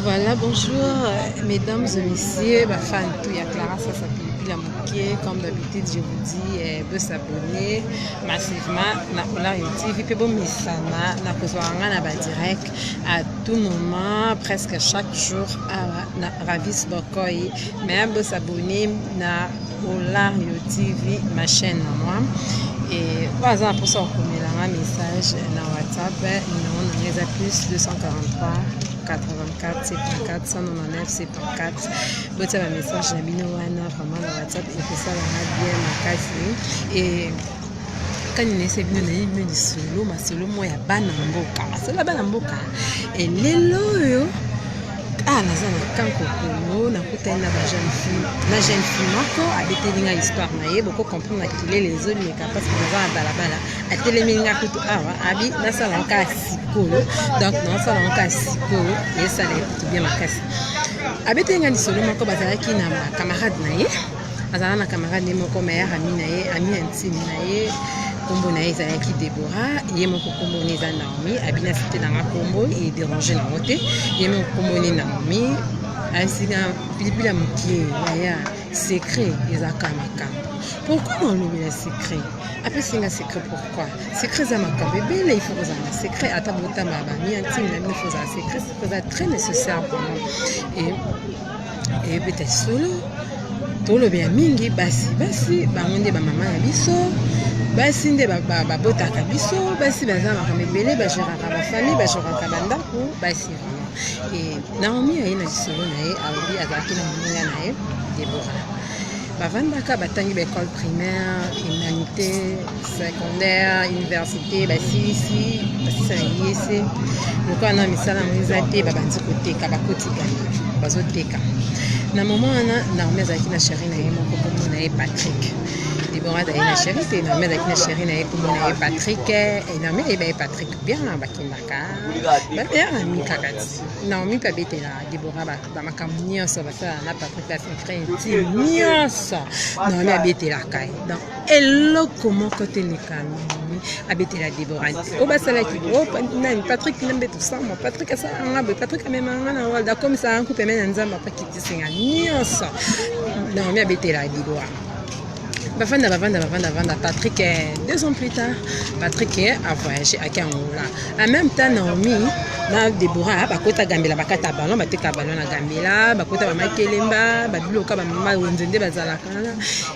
Voilà, bonjour mesdames et messieurs, ma fan tout ya Clara ça s'appelle Pila Moké. Comme d'habitude, je vous dis eh, de s'abonner massivement na Olar TV. Puis bon, misana, na kozwanga na ba direct à tout moment, presque chaque jour à na Ravis Bokoy. Mais de s'abonner na Olario TV, ma chaîne na moi. Et voilà, ça pour ça qu'on met un message dans WhatsApp. Numéro on les a plus 243 84 74 199 74. Botia ba message na bino wana vraiment na WhatsApp et que ça va bien makasi et kani nayesa bino nayebi bino lisolo masolo moko ya bana mboka masolo ya bana mboka elelo oyo ah naza na kanko kongo nakutani na bajeune fille na jeune fille moko abeteli ngai histoire na ye boko comprendre na kelele ezoleka parce que naza na balabala atelemi ngai kutu awa abi nasala nkaa sikoyo donc nasala nkaa sikoyo esala ye kutu bien makasi abeteli ngai lisolo moko bazalaki na bacamarade na ye azala na camarade ye moko ma yaka ami na ye ami intime na ye nkombo na ye ezalaki debora ye moko nkombo ne eza naomi abina site na nga nkombo ederange nango te ye moko nkombo ne naomi asika pilipili ya moke yaya secret ezalaka makambo pourkui na olobi na secret apesi nga secret pourkui secret eza makambo ebele ifo kozala na secret ata botama bami ya ntimi na bino fo ozala secret eza très nécessaire vraiment eyebeta lisolo tolobe ya mingi basi basi bango nde bamama na biso basi nde babotaka biso basi baza makambo ebele bageraka bafamille bageraka bandako basi naomi aye na lisolo na ye alobi azalaki na moninga na ye debora bavandaka batangi ba école primaire humanité secondaire université basilisi basisa na yese lokola na misala yango eza te babandi koteka bakotika bazoteka na moma wana naomi azalaki na sheri na ye moko kombo na ye patrick debora azali na sheri te naomi azalaki na sheri na ye kombo na ye patrick naomi ayeba ye patrick bien bakendaka bateaka mikakati naomi mpe abetela debora na makambo nyonso basala na patrick la secreti nyonso naomi abetelaka ye donc eloko moko te lekami abetela debora te oyo basalaki oh, nani patrick nambe tosamba patrick asala nga boye patrick amemaka nga na walda akomisaka nkupe me na nzambe apakitisinga nyonso naomi abetela debora bavanda bavanda bavanda bavanda patrick eh, deux ans plus tard patrick eh, avoyage ake angola en même temps naomi na debora bakota gambela bakata ballon bateka ballon na gambela bakota bamakelemba babiloka bamama wenze nde bazalaka wana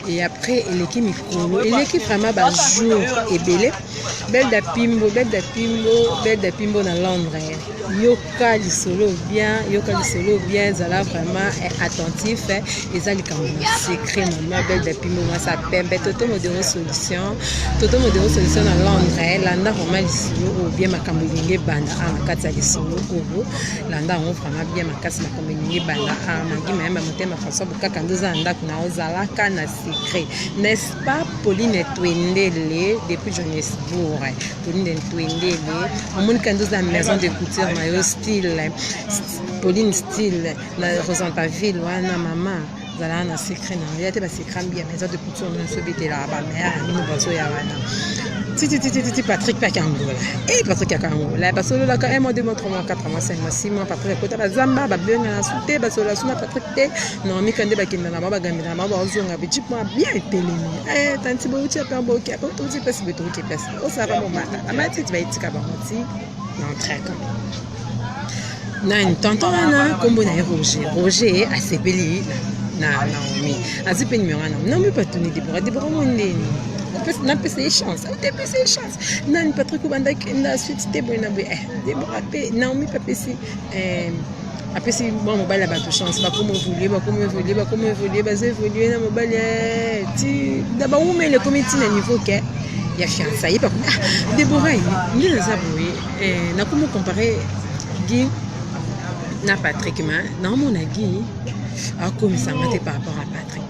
e après eleki mikolo eleki vraiment bajour ebele Belle da Pimbo, Belle da Pimbo, Belle da Pimbo na Londres. Yoka lisolo bien, yoka lisolo bien, zala vraiment eh, attentif. Eh. Eza likambo na secret maman Belle da Pimbo mwasa pembe. Toto modero solution, Toto modero solution na Londres. Eh. Landa vraiment lisolo ou bien makambo linge banda a ah, na kati ya lisolo oyo. Landa yango vraiment bien makasi makambo linge banda a ah, mangi mayamba motema François Bokaka ndoza na ndako na ozalaka na secret n'est-ce pas pauline twendele depuis johannesbourg pauline twendele omoni kandi oza maison de couture na yo style pauline style na rosanta ville wana mama zalaka na secret na ya te basecret mbi ya maison de couture nyonso ebetelaka bamaya bino bazoya wana tititititi patrick paka angola e patrick yaka angola basololaka un mois deux mois trois mois quatre mois cinq mois six mois patrick akota bazamba babengana su te basolola su na patrick te normika nde bakenda na bango bagambela Mama baozonga bichip mwa bien etelemi eh, tanti bouti ape boki ape touti mpesi boye touti mpesi osaka momata amatiti bayitika bango ti na entraka nani tonton wana nkombo na ye roger roger asepeli na naomi azwi mpe nimero wana naomi mpe atuni debora debora mo ndeni napesa ye chance otepesa ye chance nani patrik obanda kenda suite te boye na boye eh, debora mpe naomi mpe apesi Eh, apesi mwana mobali ya bato chance bakoma evolue bakoma evolue bakoma evolue baza evolue na mobali eh, ti na bawumele ekomi ti na niveau ke ya fiança ye bakomi ah debora ye nde naza boye eh, nakomi compare gi na patrick ma naomona gi akomisanga te par rapport à patrick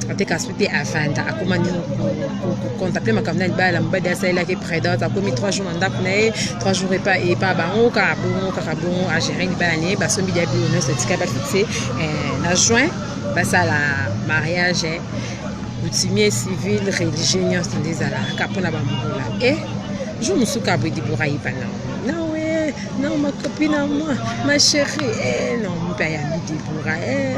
ate kasi te avanda akoma nini kocontacte makambo na libala na mobali asalelaki predate akomi 3 jours na ndako na ye 3 jours epa epa bango kaka bongo kaka bongo agere libala na ye basombi lia bilo nyonso etika bafixe eh, na juin basala mariage coutumier eh. civil religieux nyonso nde ezalaka mpo na bambola e eh, jour mosuku aboyi libora yeba nango Non, ma copine à moi, ma chérie, eh, non, mpe ayambi debora eh,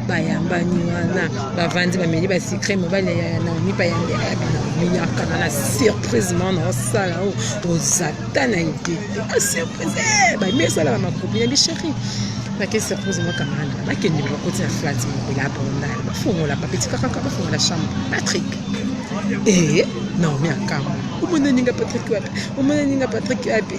bayambani wana bavandi bameli basikre mobali ya naomi mpe ayambi ayabi naomi yakana na surprise mwana osala o oh, ozata na idete a ah, surprise eh, bami esala bamakopi na bichérie nake surprise mwa camarade bakende bakoti na flat moko ya bondal bafongola bapetika kaka bafongola chambre patrick ee eh, naomi akambo omona ninga patrick wapi omona ninga patrick wapi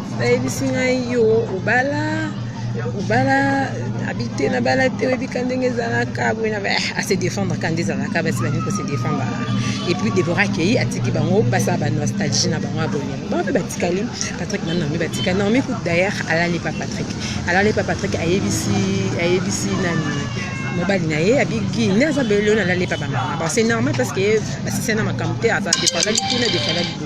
bayebisi ngai yo obala obala abi te nabala te oyebi ka ndenge ezalaka boye na eh, ase défendre ka nde ezalaka basi balingi kose défendre et puis débora akei atiki bango basala banostalgie na bango ya bolingo bango mpe batikali patrick na normi batikali normi kut d'ailleurs alali pa patrick alali pa patrick ayebisi ayebisi nani mobali na ye abigi nde aza belelo na alali pa bamama bon c'est normal parce que basisana makambo te aza defalaki kuna defalaki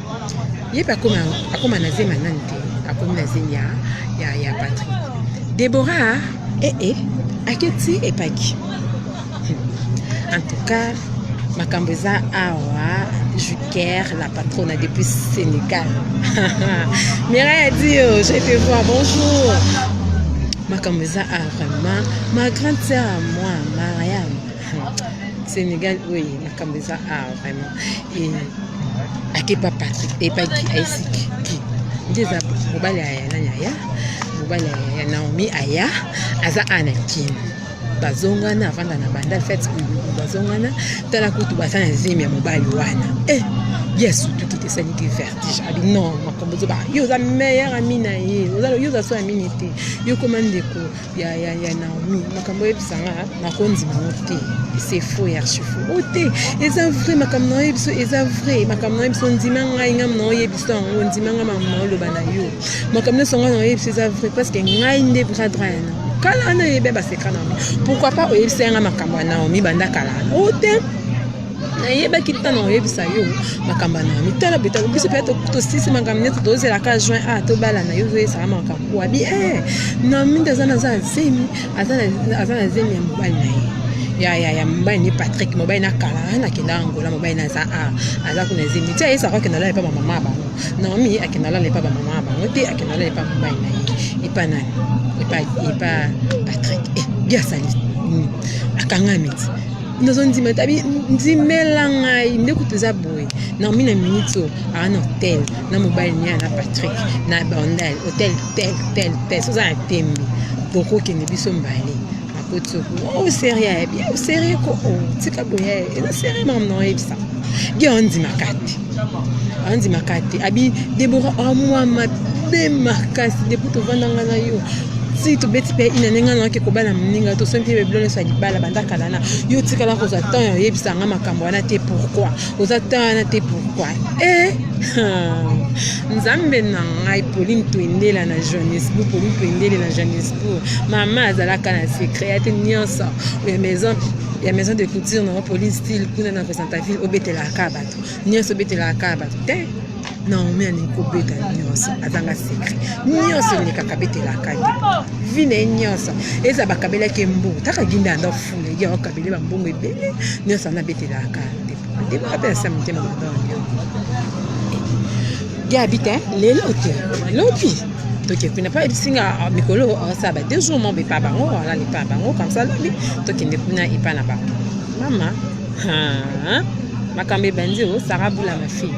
ye mpe akoma, akoma na zemi ya nani te akomi na zemi ya, ya, ya patrik debora ee eh, eh, eh, aketi epaki hmm. en tout cas makambo eza awa juker la patrona depuis sénégal mira ya dio je te vois bonjour makambo eza awa vraiment ma grande sœur à moi mariam hmm. sénégal oye makambo eza awa vraiment eh, ake pa patrik epa eh, ki aesiki ki nde eza mobali aya nani aya mobali aya naomi aya aza ana kin bazongana avanda na banda fet bazongana tala kutu baza na zemi ya mobali wana eh, yesu tukite esaliki vertige abi non makambo ozoba yo oza meilleur ami na ye yo oza so amini te yo koma ndeko ya ya ya Naomi makambo oyebisa nga nakondima ngo te c'est faux ya archifo o oh, te eza vrai makambo na yo biso eza vrai makambo na yo biso ndima ngai ngai na oye biso yango ndima ngai makambo na oloba na yo makambo nyonso ngai na oye biso eza vrai parce que ngai nde bras droit ya Naomi kala wana oyebi baseka na yango pourquoi pas oyebisa yanga makambo ya Naomi banda kala wana o oh, te nayebaki ntango oyebisa yo makambo na mitala bitala biso mpe tosisi makambo nyonso tozela ka juin a ah, tobalana yo ozoyesaka makambo wabi e eh, na mingi aza na zemi aza na zemi ya mobali na ye ya ya ya mobali ni patrik mobali na kala ah, nakenda angola mobali na aza a ah, aza kuna zemi ti ayesaka akenda lala epa bamama bango naomi akenda lala epa bamama bango te akenda lala epa mobali na ye epa nani epa patrik e eh, biasali hmm, akangami ti nazondima tabi ndimela ngai nde kutu eza boye naomi na minute oyo aa na hotel na mobali niya na patrick na bandal hotel tel tel tel soza na tembe bokokende biso mbale akoti oku o oh, serie ya bien o serie ko o oh, tika boye eza serie mam na oyebisa ge ondimaka te anzi makate abi debora amwa ah, mabe makasi depuis tovandanga na yo ti tobeti mpe ina ndenge wana oke kobala moninga to soki mpe bebilo nyonso ya libala banda kala na yo otikala kozwa temps ya oyebisa nga makambo wana te pourkui oza temps wana te pourkui e eh, nzambe na ngai pauline toendela na johannesbourg pauline toendele na johannesbourg mama azalaka na secret ya te nyonso ya maison ya maison de couture nango pauline style kuna na constantaville obetelaka bato nyonso obetelaka kaka bato te naomi alingi kobeta nyonso azanga sekre nyonso elekaka betelaka ye vi na ye nyonso eza bakabelaki mbongo taka ginda yanda fula ye akabele bambongo ebele nyonso wana betelaka ndebaka mpe asa motema mabango gabi te lelo te lobi tokende kuna mpo ayebisi nga ah, mikolo asala ba deux jours mobe epa bango alala epa bango kamsa lobi tokende kuna epa na bango mama makambo ebandi o sara bula mafi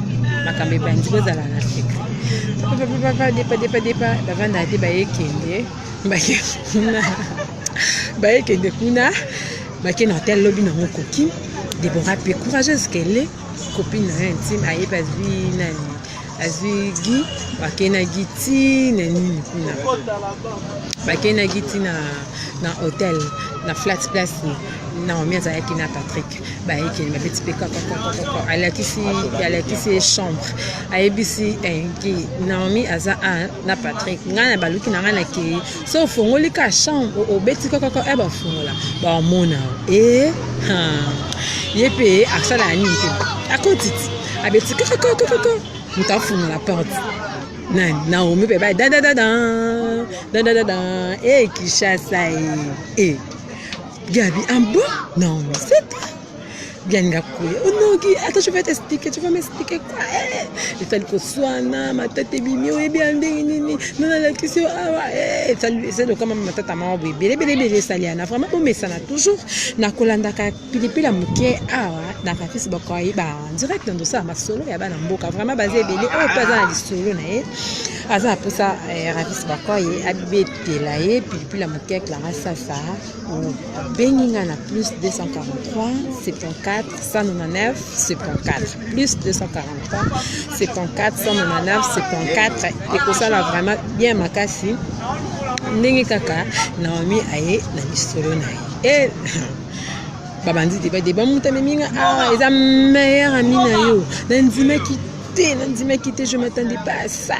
makambo ebandi kozala na afrika papapapa depa depa depa bavandaka te bayekende bake kuna bayekende kuna bake na hotel lobi nango koki debora mpe courageuse kele copine na yo intime ayebi azwi nani azwi gi bakenaki ti na nini kuna bakenaki ti na hotel na flat place naomi azalaki na patrick bayekeli babeti mpe kakakakakaka alakisi alakisi ye chambre ayebisi enki eh, naomi aza a na patrick ngai na baluki na ngai nakei so ofongoli ka chambre obeti kakaka e eh, bafongola bamona e eh, ye mpe asala ya nini mpe akotiti abeti kakakakakaka moto afongola porte nani naomi mpe baye dadadada dadadada e kishasa e e Gabi, un bon Non, mais c'est toi. Gabi Ngakoye. Oh non, Guy, attends, je vais t'expliquer. Tu vas m'expliquer quoi eh, Etali koswana, matata ebimi, oyebi ya ndenge nini Non, la question, ah ouais. Etali, c'est le comment matata mawa boye. Bele, bele, bele, saliana. Vraiment, bomesana toujours. Na kolandaka pilipili ya moke awa na kafisi bakoyi ba en direct na ndosala masolo ya bana mboka. Vraiment, baza ebele. Oyo mpe aza na lisolo na ye. Aza na mposa eh, rafisi bakoyi abeti tela ye pilipili ya moke ya clara sasa obengi nga na plus 243 74 199 74 plus 243 74 199 74 ekosala vraiment bien makasi ndenge kaka naomi aye na lisolo na ye e babandi deba deba moto amemi nga awa ah, eza meilleur ami na yo nandimaki te nandimaki te je m'attendais pas à ça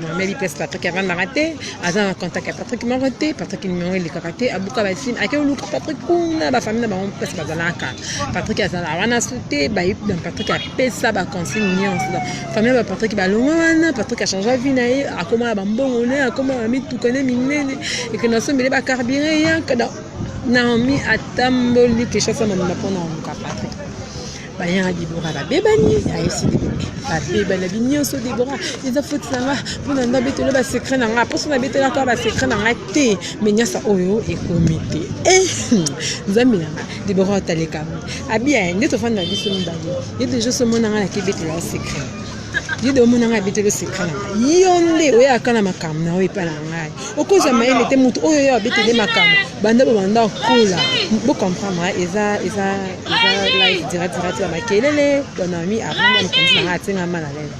Mameli place Patrick avandaka te aza na contact ya Patrick moko te Patrick numéro elekaka te abuka basine ake oluka Patrick kuna bafamille na bango place bazalaka Patrick azala wana so te bayi na Patrick apesa baconsigne nyonso donc famille ba Patrick balongwa wana Patrick achangea vie na ye akoma na bambongo ne akoma na mituka ne minene ekende asombele bacarburant eyaka donc Naomi atamboli quelque chose amamela mpo na omuka Patrick bayanga debora babebani ayesi babebani abi nyonso debora eza foti na nga mpo na nda betelo basecret na nga mposo na betelaka basecret na nga te me nyasa oyo ekomi te eh, nzambe na nga debora otalekami abi aye nde tofanda biso mibale ye deja somona nga nakebetela secret yede omona ngai abeteli osekala yo nde oyaka na makambo na oyo epai na ngai okozwa mayele te moto oyo yo abeteli makambo banda bobanda kola bocomprendre eza eza eza life diradirati ya makelele bonami avanda mokonzi na ngai atinga mala lele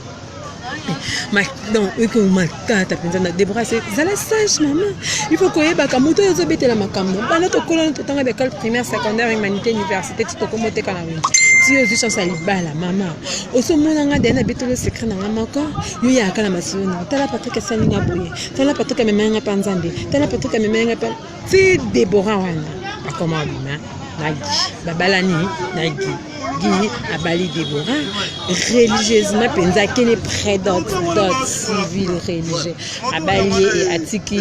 donc eke matata mpenza na debrase zala sage mama il faut koyebaka moto oyo ozobetela makambo bana tokolana totanga bekole primaire secondaire humanité université ti tokomoteka na wengi ti ozwi chance ya libala mama oso mona nga dena bitolo secret na nga moko yo ya kala masolo na tala Patrick asali nga boye tala Patrick amema nga pa nzambe tala Patrick amema nga pa ti Deborah wana akoma bima na gi babalani na gi gi abali Deborah religieusement penza kene près d'autres d'autres civil religieux abali ye et atiki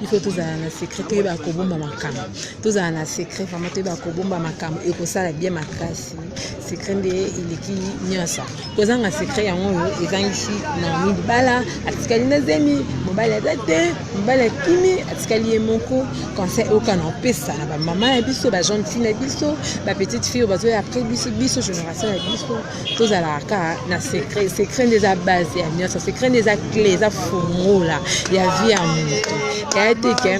il faut tozala na secret toyeba kobomba makambo tozala na secret vraimen toyeba kobomba makambo ekosala bien makasi secret nde eleki nyonso kozanga secret yango oyo ezangisi naomi libala atikali na zemi mobali aza te mobali akimi atikali ye moko conseil oyoka na opesa na bamama ya biso bajeune fille na biso bapetite fille oyo bazoya après biso biso génération ya biso tozalaka kaka na secret secret nde eza base ya nyonso secret nde eza cle eza fungola ya vie ya moto yaya te ke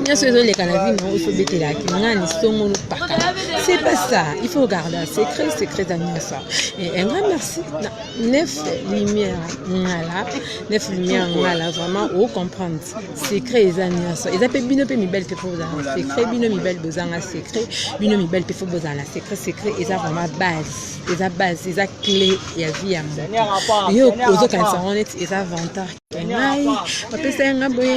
nyonso ezoleka na vie nango ifobetelaki ngani songo lopaka c'est pas ça il faut garder un secret secret ya nyonso un grand merci na neuf lumière ngala neuf lumière ngala vraiment o comprendre secret eza nyonso eza mpe bino mpe mibali mpe fo bozala na secret bino mibali bozanga secret bino mibali mpe fo bozala na secret secret eza vraiment base eza base eza clé ya vie ya moto yo ozokanisa yango neti eza vantar ngai bapesa yanga boye